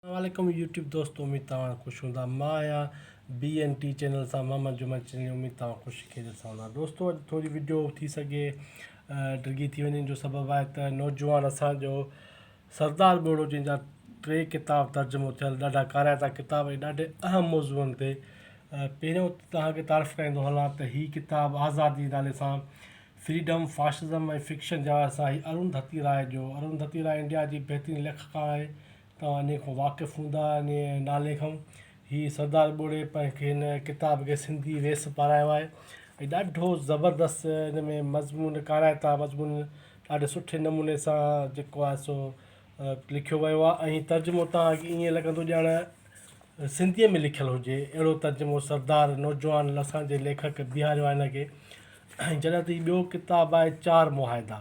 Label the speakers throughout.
Speaker 1: اسلام عليڪم يوٽيوب دوستو اميد توهان خوش هوندا مان آهيان بي اين ٽي چينل سان محمد جمعي چني اميد توهان خوش خيريت سان هوندا دوستو اڄ ٿوري ويڊيو ٿي سگهي ڊگهي ٿي وڃي جو سبب آهي ته نوجوان اسان جو سردار ٻوڙو جن جا ٽي ڪتاب ترجمو ٿيل ڏاڍا ڪارائتا ڪتاب ۽ ڏاڍي اهم موضوعن تي پهريون توهان کي تعارف ڪرائيندو هلان ته هي ڪتاب آزادي نالي سان فريڊم فاشزم ۽ فڪشن جا سائين ارون ڌتي راء جو ارون ڌتي راء انڊيا جي بهترين ليکڪا آهي توهان انهيء کان واقف هوندا، انهيء نالي کان. هي سردار ٻوڙي پنهنجي هن ڪتاب کي سنڌي ويس پارايو آهي ۽ ڏاڍو زبردست ان ۾ مضمون ڪارائتا مضمون ڏاڍي سٺي نموني سان جيڪو آهي سو لکيو ويو آهي ۽ هي ترجمو تان اڳ ائين لڳندو ڄاڻ سنڌيء ۾ لکيل هجي اهڙو ترجمو سردار نوجوان لسان جي ليکڪ بيهاريو آهي هن کي ۽ جڏهن ته هي ٻيو ڪتاب آهي چار معاهدا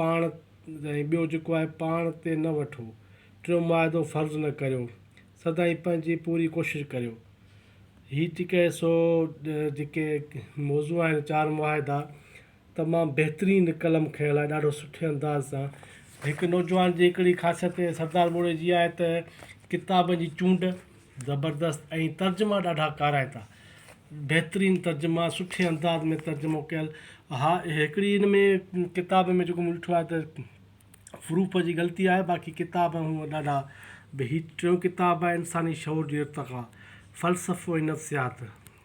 Speaker 1: پاڻ ۽ ٻيو جيڪو آهي پاڻ تي نه وٺو. ٽيون معاهدو فرض نه ڪريو. سدائين پنهنجي پوري ڪوشش ڪريو. هي جيڪي سو جيڪي موضوع آهن چار معاهدا تمام بهترين قلم کنئڻ لاء ڏاڍو سٺي انداز سان هڪ نوجوان جي هڪڙي خاصيت سردار موڙي جي آهي ته ڪتابن جي چونڊ زبردست ۽ ترجما ڏاڍا ڪارائتا. بهترين ترجما سٺي انداز ۾ ترجمو ڪيل ها هڪڙي ان ۾ ڪتاب ۾ جيڪو مون ڏٺو آهي ته حروف جي غلطي آهي باقي ڪتاب هونئن ڏاڍا به هي ٽيون ڪتاب آهي انساني شعور جي ارتقا فلسفو ۽ نفسيات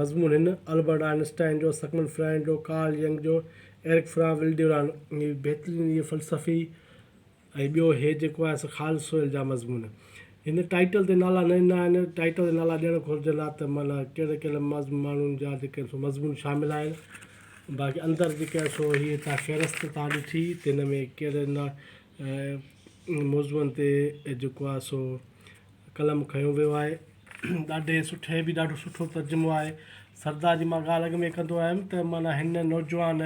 Speaker 1: مضمون هن البرٽ آئن اسٽائن جو، سگمنڊ فرائيڊ جو، ڪارل ينگ جو، ايرڪ فران ولڊيوران جي بهترين اهي فلسفي ۽ ٻيو هي جيڪو آهي سو خالد سويل جا مضمون. هن ٽائيٽل تي نالا نه ڏنا آهن، ٽائيٽل تي نالا ڏيڻ گهرجن ها ته معنيٰ ڪهڙي ڪهڙي ماڻهن جا جيڪي آهن سو مضمون شامل آهن. باقي اندر جيڪي آهن سو هي تان فهرست تان ڏٺي ته هن ۾ ڪهڙي ۽ ان موضوعن تي جيڪو آهي سو قلم کنيو ويو آهي ڏاڍي سٺي هي بي ڏاڍو سٺو ترجمو آهي سردار جي مان ڳالهه اڳ ۾ ڪندو آيم ته معنيٰ هن نوجوان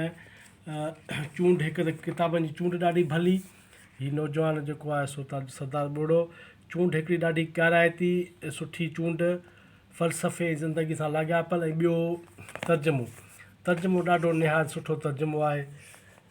Speaker 1: چونڊ هڪ ته ڪتابن جي چونڊ ڏاڍي ڀلي هي نوجوان جيڪو آهي سو تاج سردار ٻوڙو چونڊ هڪڙي ڏاڍي ڪارائتي ۽ سٺي چونڊ فلسفي ۽ زندگي سان لاڳاپيل ۽ ٻيو ترجمو ترجمو ڏاڍو نهايت سٺو ترجمو آهي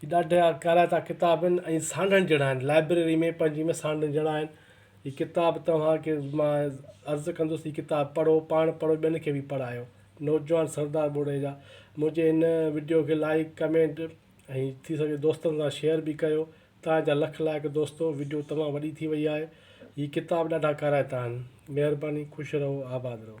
Speaker 1: هي ڏاڍا ڪارائتا ڪتاب آهن ۽ سانڍڻ جهڙا آهن لائبريري ۾ پنهنجي ۾ سانڍڻ جهڙا آهن هي ڪتاب توهان کي مان عرض ڪندس هي ڪتاب پڙهو پاڻ پڙهو ٻين کي به پڙهايو نوجوان سردار ٻوڙي جا منهنجي هن وڊيو کي لائڪ ڪمينٽ ۽ ٿي سگهي دوستن سان شيئر به ڪيو توهان جا لک لائق دوستو وڊيو تمام وڏي ٿي وئي آهي هي ڪتاب ڏاڍا ڪارائتا آهن مهرباني خوش رهو آباد رهو